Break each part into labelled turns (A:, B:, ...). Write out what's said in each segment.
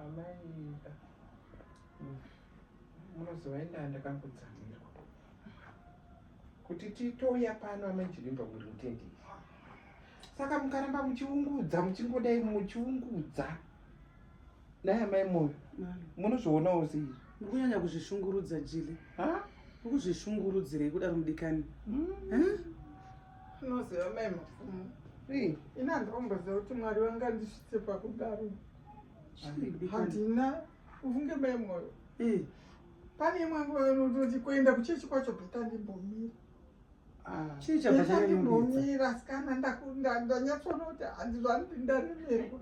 A: Amaida. Munozoenda ndakangotsamirwa. Kuti titouya pano amajivimba muri mutendei. Saka mukaramba muchiungudza muchingodai muchiungudza. Naya mai moyo munozvionawo sei ndikunyanya kuzvishungurudza
B: jili ukuzvishungurudzirei kudaro mudikani hmm?
C: unoziva mai mapfumo ini handiomboziva kuti mwari vanga ndisvitse pakudaro handina ufunge mai moyo pane imwe nguva inototi kuenda kuchechi kwacho bheta ndimbomira Ah, chii chabva chanyanyomira sikana ndanyatsoona kuti hanzi zvanoti ndaremerwa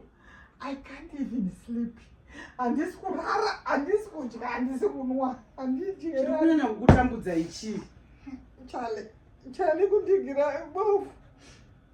C: i can't even sleep handisi kurara handisi kudya handisi kunwa handidyekunyanya kukutambudza
B: ichii chale
C: chale kundigira bofu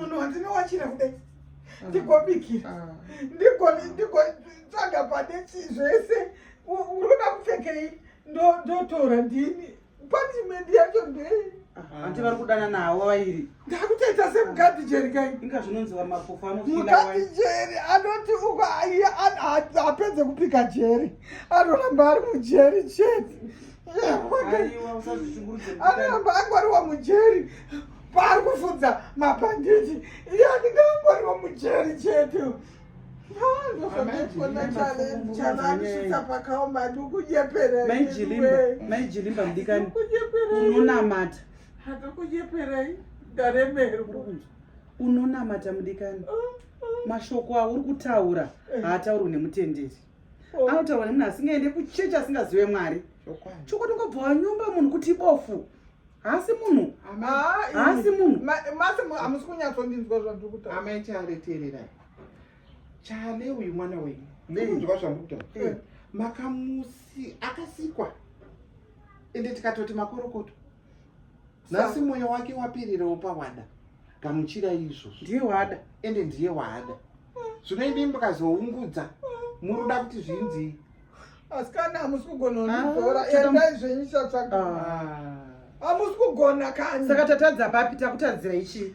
C: munhu wandinowachira kudai ndigobikira ndigotsvaga pane zvese unoda kupfekei ndotora ndini punishment yacho ndei hanti vari kudana
B: nawo vairi ndakutoita semukadhi
C: jeri kai inga zvinonziwa mapofu
B: anomukadhi jeri anoti
C: uko apedze kupika jeri anoramba ari mujeri chete
B: anoramba angwariwa
C: mujeri paari kufudza mabhanditi iye anenge angoriwo mujeri chete
B: maijilimba mudikani unonamata unonamata mudikani mashoko auri kutaura haataurwi nemutenderi oh. anotaura nemunhu asingaende kuchechi asingazive mwari chokwadi ungobva wanyomba munhu kuti ibofu haasi munhu haasi munhu masi hamusi
C: kunyatsondinzwa zvandiri kutaura amai chale teererai
A: chale uyu mwana wenyu ndinzwa zvandiri kutaura eh. makamusi akasikwa ende tikatoti makorokoto nhasi mwoyo wake wapirirawo pawada gamuchira izvozvo ndiye wada ende
B: ndiye wada
A: zvino imi mukazoungudza muruda kuti zvinzii asikana
C: hamusi kugononibhora ah, endai zvenyu chatsvaga ah. hamusi kugona kani saka tatadza papi
B: takutadzira ichii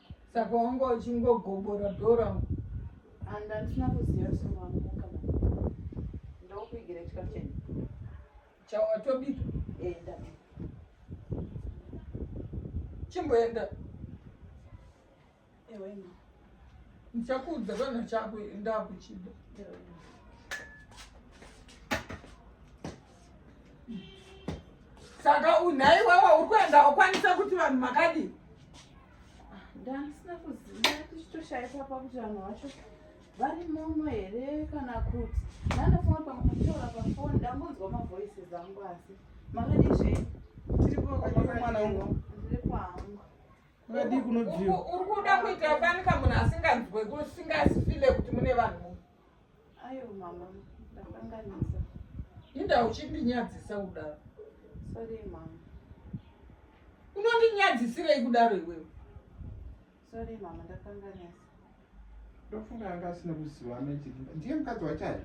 D: saka wanga
C: uchingogobora dhora and
D: andina kuziva sewamuka ndokuigira chikafu cheni
C: chawatobika enda chimboenda
D: ewena ndichakuudza
C: kana chako ndakuchida saka unhai wawa uri kuenda wakwanisa kuti vanhu makadii
D: ndandisina kuziva tichitoshaikwa pakuti vanhu vacho vari muno here kana kuti ndandafunga kuti pamwe kutaura pafoni ndambonzwa mavoices angu asi makadii zvenyu mwana wangu ndiri kwangu
B: vakadii kunobviwa uri kuda kuita
C: fanika munhu asinganzwe kusingazifile kuti mune vanhu Ayo
D: mama, ndakanganisa. Inda
C: uchindinyadzisa kudaro. Sorry
D: mama.
C: Unondinyadzisirei kudaro iwewe?
D: Sorry mama, ndakanganisa.
A: Ndofunga anga asina kuziva ameti. Ndiye mukadzi wachayo.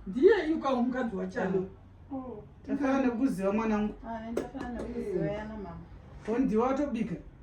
A: Ndiye yuka
C: mukadzi wachayo. Oh. Ndafana
D: nekuziva
B: mwanangu. Ah,
D: ndafana
B: nekuziva yana
D: mama.
B: Ko ndiwe
D: watobika?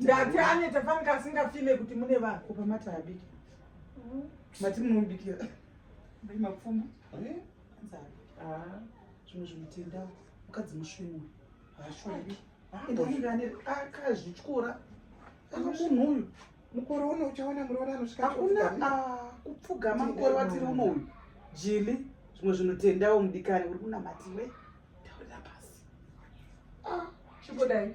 B: ndati
C: aneta fanika asingafime kuti mune vanhu kupa mata abiki
B: mm. mati munomubikira mai mapfuma eh? ah. zvimwe zvinotenda mukadzi musvinu haashori akazvityora munhu uyu mukore uno
A: uchaona muroora anosvika hakuna ah,
B: kupfugama mukore watiri uno uyu jili zvimwe zvinotendawo mudikani uri kunamatiwe taurira pasi ah, chimbodai